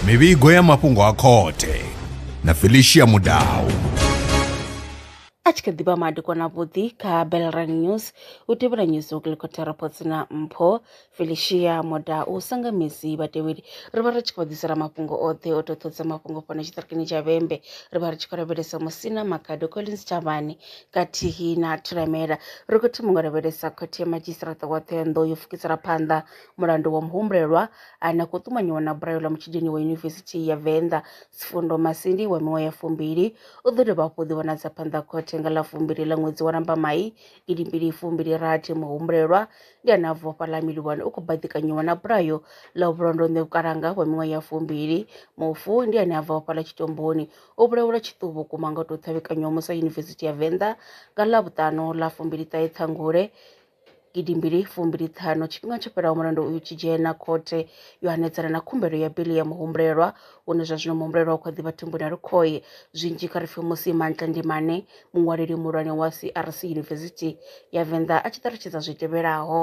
mivhigo ya mafhungo a khothe na felicia mudau a tshi kha ḓivha madekwana vhuḓi kha belran news u tevhela news okilikotha reports na mpho felicia moda u sanga misi vhatevheli ri vha ri tshi khou ḓisela mafhungo oṱhe o toṱhodza mafhungo fhano tshiṱirikini tsha vhembe ri vha ri tshi khou lavhelesa musina makado collins chavhani khathihi na thiramela ri khou thoma nga lavhelesa khothe ya madzhisiṱiraṱa wa Ṱhohoyanḓou yo pfukisela phanḓa mulandu wa muhumbulelwa ane a khou ṱumanyiwa na bulayo ḽa mutshidini wa Yunivesithi ya Venḓa Sifundo Masindi wa miṅwaha ya fumbili u ḓo dovha hafhu ḓivhonadza phanḓa khothe nga ḽa fumbili ḽa ṅwedzi wa Lambamai gidi mbili fumbili rathi muhumbulelwa ndi ane a bva fhaḽa Mililwane u khou baḓikanyiwa na bulayo ḽa vhulondonḓe vhukalanga wa miṅwaha ya fumbili mufu ndi ane a bva fhaḽa Tshitomboni O vhulaelwa tshiṱuhu vhukuma nga u tou ṱhavhekanywaho musi a Yunivesithi ya Venḓa nga Ḽavhuṱanu ḽa fumbili ṱahe Ṱhangule gidi mbili fumbili ṱhanu. Tshifhinga tsho fhelaho mulandu uyu tshi dzhena khothe yo hanedzana na khumbelo ya bili ya muhumbulelwa une zwa zwino muhumbulelwa u kha ḓi vha thumbuni ha lukhohe zwinzhi kha ri pfe musi Mantle Ndimane muṅwaleli muhulwane wa CRC Yunivesithi ya Venḓa a tshi ṱalutshedza zwi tevhelaho.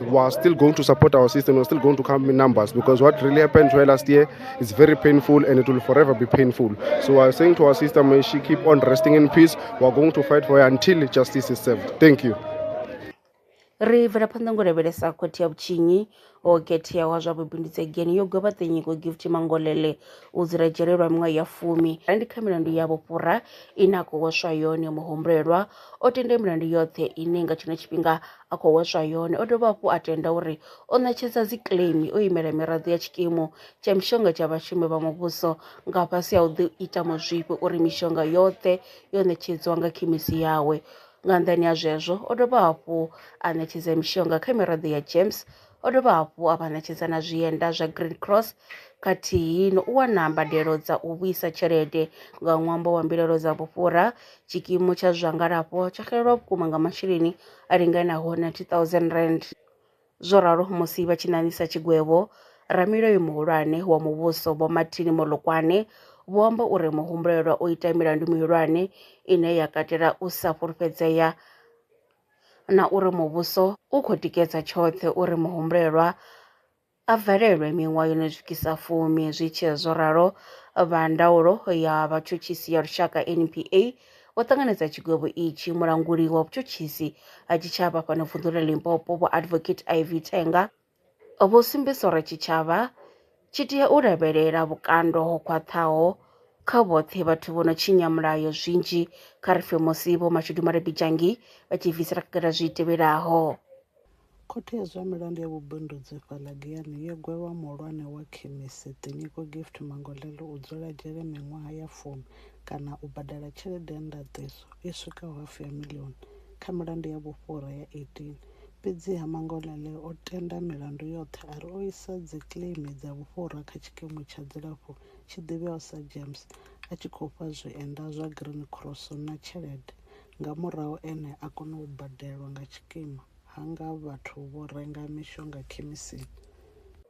We are still going to support our system. We are still going to come in numbers because what really happened to her last year is very painful and it will forever be painful. So I am saying to our sister, may she keep on resting in peace. We are going to fight for her until justice is served. Thank you. ri bvela phanḓa ngo lavhelesa khothe ya vhutshinyi o khethea wa zwa vhubindudzi egeni yo gwevha ṱenyiko gift mangolele u dzula dzhele lwa miṅwaha ya fumi ra ndi kha milandu ya vhufhura ine a khou hweswa yone muhumbulelwa o tende milandu yoṱhe ine nga tshino tshifhinga a khou hweswa yone. O dovha hafhu a tenda uri o ṋetshedza dzikiḽeimi o imela miraḓo ya tshikimu tsha mishonga tsha vhashumi vha muvhuso nga fhasi ha u ḓi ita mazwifhi uri mishonga yoṱhe yo ṋetshedziwa nga khemisi yawe. Nga nnḓani ha zwezwo, o dovha hafhu a ṋetshedza mishonga kha miraḓo ya James O dovha hafhu a vha ṋetshedza na zwienda zwa Green Cross khathihi no u wana mbadelo dza u vhuisa tshelede nga ṅwambo wa mbilaelo dza vhufhura. Tshikimu tsha zwa ngalafho tsho xelelwa vhukuma nga masheleni a linganaho R90 000, zwo ralo musi vha tshi ṋaṋisa tshigwevho. Ramulayo muhulwane wa muvhuso Vho Martin Molokwane vho amba uri muhumbulelwa o ita milandu mihulwane ine ya katela u sa fhulufhedzea, na uri muvhuso u khou tikedza tshoṱhe uri muhumbulelwa a valelwe miṅwaha yo no swikisa fumi. Zwi tshi zwo ralo, vha ndaulo ya vhatshutshisi ya lushaka NPA vho ṱanganedza tshigwevho itshi. Mulanguli wa vhutshutshisi ha tshitshavha fhano vunḓu ḽa Limpopo, Vho Advocate Ivy Tenga, Vho sumbedzisa uri tshitshavha tshi tea u lavhelela vhukando ho khwaṱhaho kha vhoṱhe vhathu vho no tshinya mulayo zwinzhi kha ri pfe musi vho Mashudu Malebidzhangi vha tshi bvisela khagala zwi tevhelaho. Khothe ya zwa milandu ya vhubindudzi fhaḽa Giyani yo gwevha muhulwane wa khemisi, Tinyiko Gift Mangolele u dzula dzhele miṅwaha ya fumi kana u badela tshelede ya ndaṱiso i swikaho hafu ya miḽioni kha milandu ya vhufhura ya 18. Fhedziha Mangolane o tenda milandu yoṱhe a ri o isa dzikleimi dza vhufhura kha tshikimu tsha dzilafho tshi ḓivheaho sa GEMS, a tshi khou fha zwienda zwa Green Cross na tshelede, nga murahu ene a kona u badelwa nga tshikimu, ha nga vhathu vho renga mishonga khemisini.